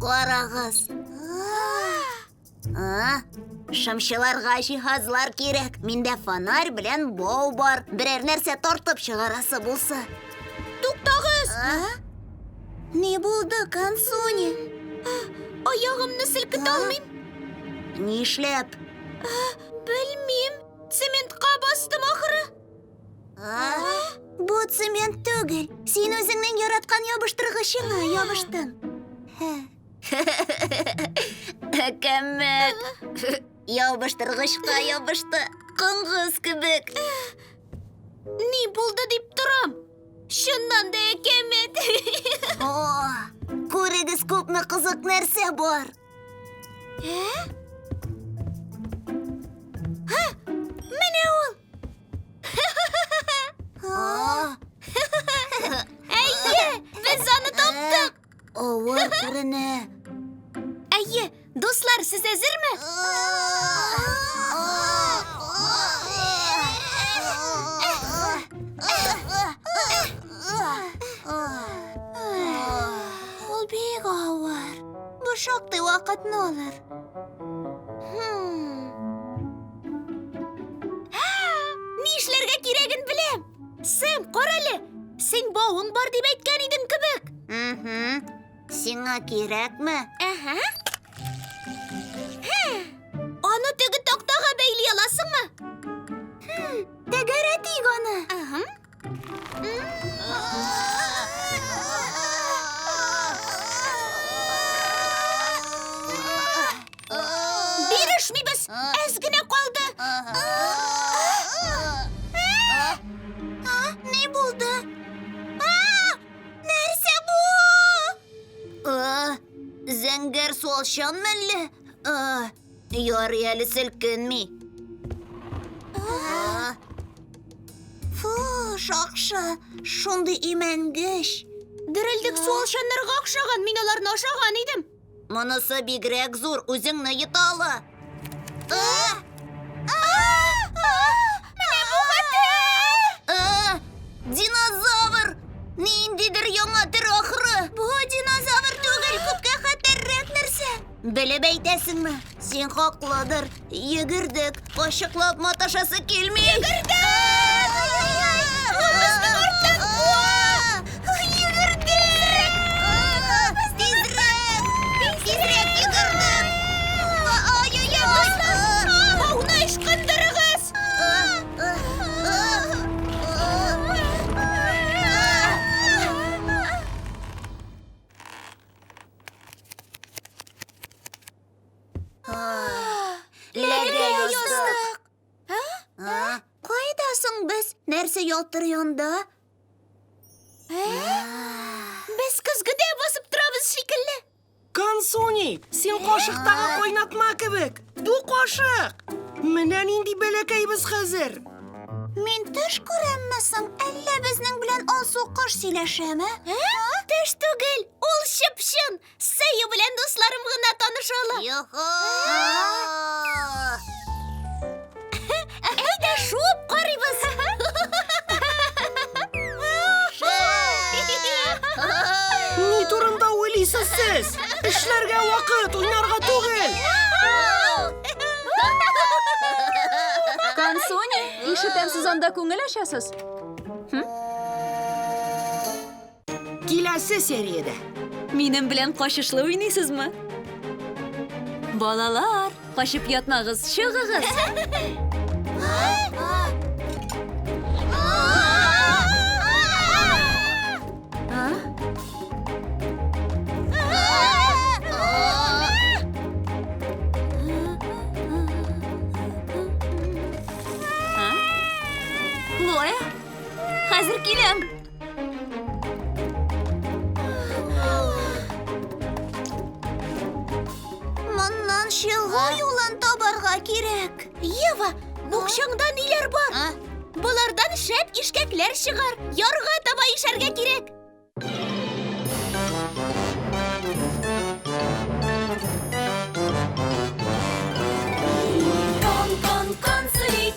Карагыз. А, Шымчыларга җиһазлар кирәк. Миндә фонарь белән бау бар. Берәр нәрсә тартып чыгарасы булса. Туктагыз! Не булды, Кансуни? Аягымны селкетә алмыйм. Нишләп? Белмим. Цементка бастым ахры. Бу цемент түгел. Син үзеңнең яраткан ябыштыргычыңа ябыштың. Әкәмәт. Ябыштыргычка ябышты. Коңгыз кебек. Ни булды дип торам? Чыннан да әкәмәт. О, күрегез күпме кызык нәрсә бар. Ә? Әйе, без аны таптык. Авыр күренә. Әйе, дуслар, сез әзерме? Ул бик авыр. Бу шактый вакытны алыр. Ни эшләргә кирәген беләм. Сэм, кара әле. Син бауың бар дип әйткән идең кебек. Угу. Сиңа кирәкме? Әһә. Аны теге тактага бәйли аласыңмы? Тәгәрәтик аны. Әһә. Бирешмибез, әз генә калды. Ни булды? Нәрсә бу? Зәңгәр суалчан мәлле? Ярый әле селкенми. Фу, шакшы, шундый имәнгеш. Дерелдек су алшаннарга охшаган, мин аларны ашаган идем. Монысы бигрәк зур, үзеңне йоталы. Динозавр! Ниндидер яңа төр ахры. Бу динозавр түгел, күпкә хәтәррәк нәрсә. Белеп әйтәсеңме? Син хаклыдыр. Йөгердек, кашыклап маташасы килми. Йөгердек! нәрсә ялтыр янда? Ә? Без көзгедә басып торабыз шикелле. Кансуни, син кашыктагы кайнатма кебек. Бу кашык! Менә нинди бәләкәйбез хәзер! Мин төш күрәмме соң? Әллә безнең белән алсу кош сөйләшәме? Төш түгел, ул чыпчын. Сәю белән дусларым гына таныша ала. Юху! Әйдә, шуып карыйбыз. Ни турында уйлыйсыз сез? Эшләргә вакыт, уйнарга түгел. Консуни, ишетәм, сез анда күңел ачасыз. Киләсе сериядә. Минем белән качышлы уйныйсызмы? Балалар, качып ятмагыз, чыгыгыз. Хлоя, хәзер киләм. Моннан чыгу юлын табарга кирәк. Ева, букчаңда ниләр бар? А? Болардан шәп ишкәкләр чыгар. Ярга таба ишәргә кирәк. Кон, кон, кон, сулик,